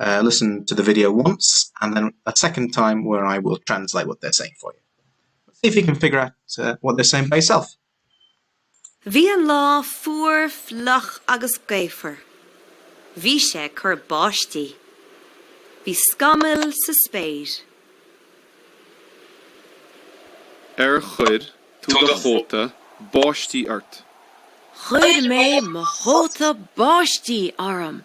listen to the video once and then a second time where I will translate what they're saying for you. But see if you can figure out what they're saying by yourself. Bhí an lá fuar fliuch agus gaofar. Bhí sé ag cur báistí. Bhí scamaill sa spéir. Ar chuir tú do chóta báistí ort? Chuir mé mo chóta báistí orm.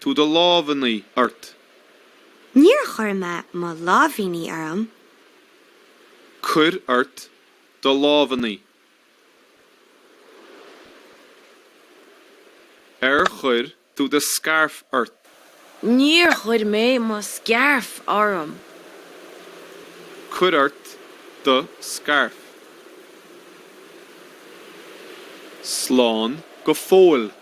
tú do lámhainní ort? Níor chuir mé mo lámhainní orm. Cuir ort do lámhainní. Ar chuir tú do scairf ort? Níor chuir mé mo scairf orm. Cuir ort do scairf. Slán go fóill.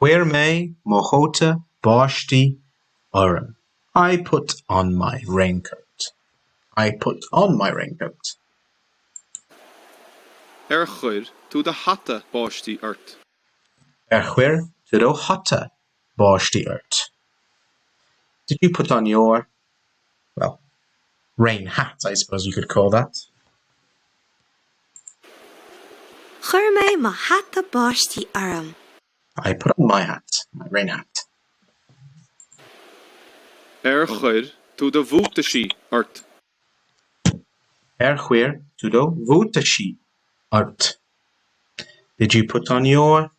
Chuir mé mo chóta báistí orm. I put on my raincoat. I put on my raincoat. Ar chuir tú do hata báistí ort? Ar chuir tú do hata báistí ort? Did you put on your well, rain hat, I suppose you could call that. Chuir mé mo hata báistí orm. I put on my hat, my rain hat. Ar chuir tú do bhuataisí ort? Ar chuir tú do bhuataisí ort? Did you put on your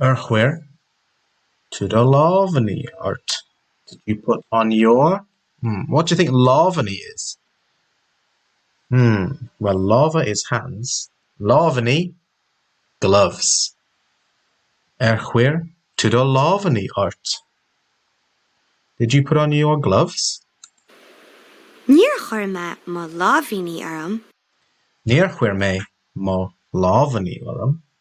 Ar chuir tú do lámhainní ort? Did you put on your, hmm, what do you think lámhainní is? Hmm, well lámha is hands, lámhainní gloves. Ar chuir tú do lámhainní ort? Did you put on your gloves? Níor chuir mé mo lámhainní orm. Níor chuir mé mo lámhainní orm.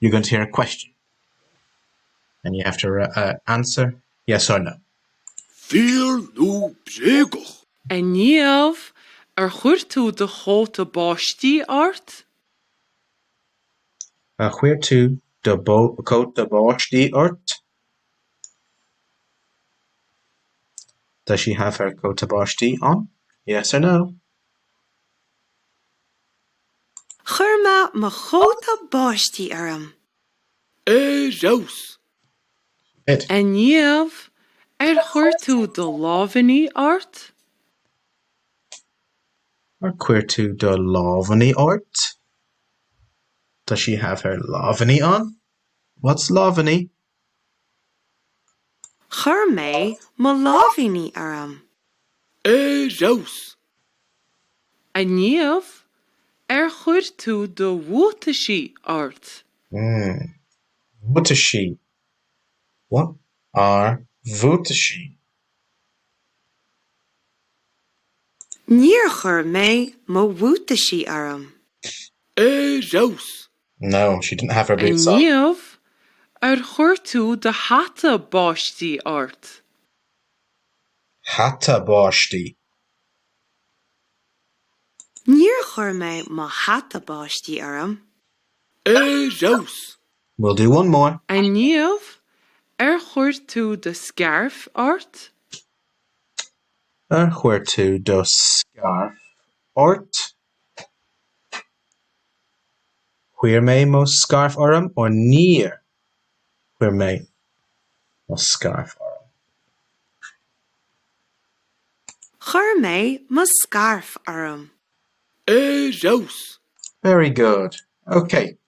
You're going to hear a question and you have to answer yes or no. Fíor nó bréagach? A Niamh, ar chuir tú do chóta báistí ort? Ar chuir tú do chóta báistí ort? Does she have her cóta báistí on? Yes or no. Chuir mé mo chóta báistí orm. Ar fheabhas! Ed. A Niamh, ar chuir tú do lámhainní ort? Ar chuir tú do lámhainní ort? Does she have her lámhainní on? What's lámhainní? Chuir mé mo lámhainní orm. Ar fheabhas! A Niamh, ar chuir tú do bhuataisí ort? Hmm. Buataisí? What are buataisí? Níor chuir mé mo bhuataisí orm. Ar fheabhas! No, she didn't have her boots on. A Niamh, ar chuir tú do hata báistí ort? Hata báistí. Níor chuir mé mo hata báistí orm. Ar fheabhas! We'll do one more. A Niamh, ar chuir tú do scairf ort? Ar chuir tú do scairf ort? Chuir mé mo scairf orm or Níor chuir mé mo scairf orm. Chuir mé mo scairf orm. Ar fheabhas! Very good. Ok,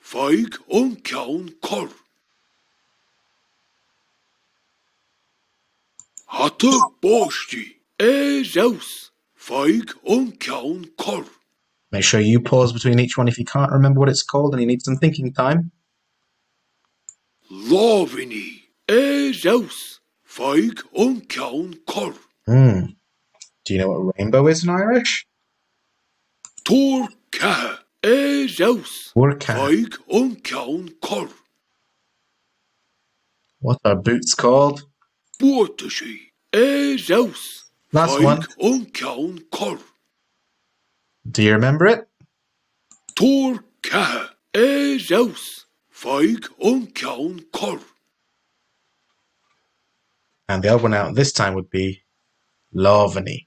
Faigh an ceann corr. Hata báistí. Ar fheabhas! Faigh an ceann corr. Make sure you pause between each one if you can't remember what it's called and you need some thinking time. Lámhainní. Ar fheabhas! Faigh an ceann corr. Hmm. Do you know what rainbow is in Irish? Tuar ceatha ar fheabhas, Tuar ceatha. faigh an ceann corr. What are boots called? Buataisí ar fheabhas, Last one. faigh an ceann corr. Do you remember it? Tuar ceatha ar fheabhas, faigh an ceann corr. And the odd one out this time would be lámhainní.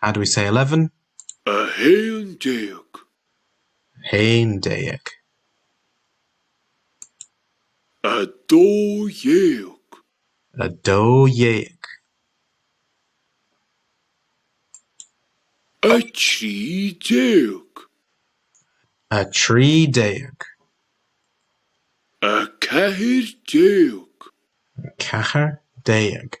How do we say eleven? a haon déag. a haon déag. a dó dhéag. a dó dhéag. a trí déag. a trí déag. a ceathair déag. a ceathair déag.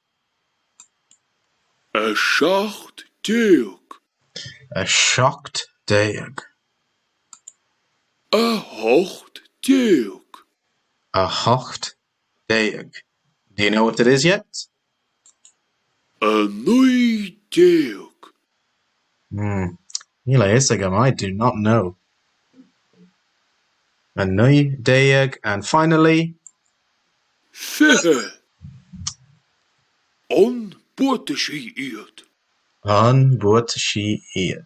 A seacht déag. A seacht déag. A hocht déag. A hocht déag. Do you know what it is yet? A naoi déag. Mmm níl a fhios agam I do not know. 19 and finally. 20 An buataisí iad? An buataisí iad?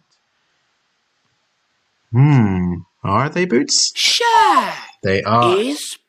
Mmm are they boots? Sea! They are. Is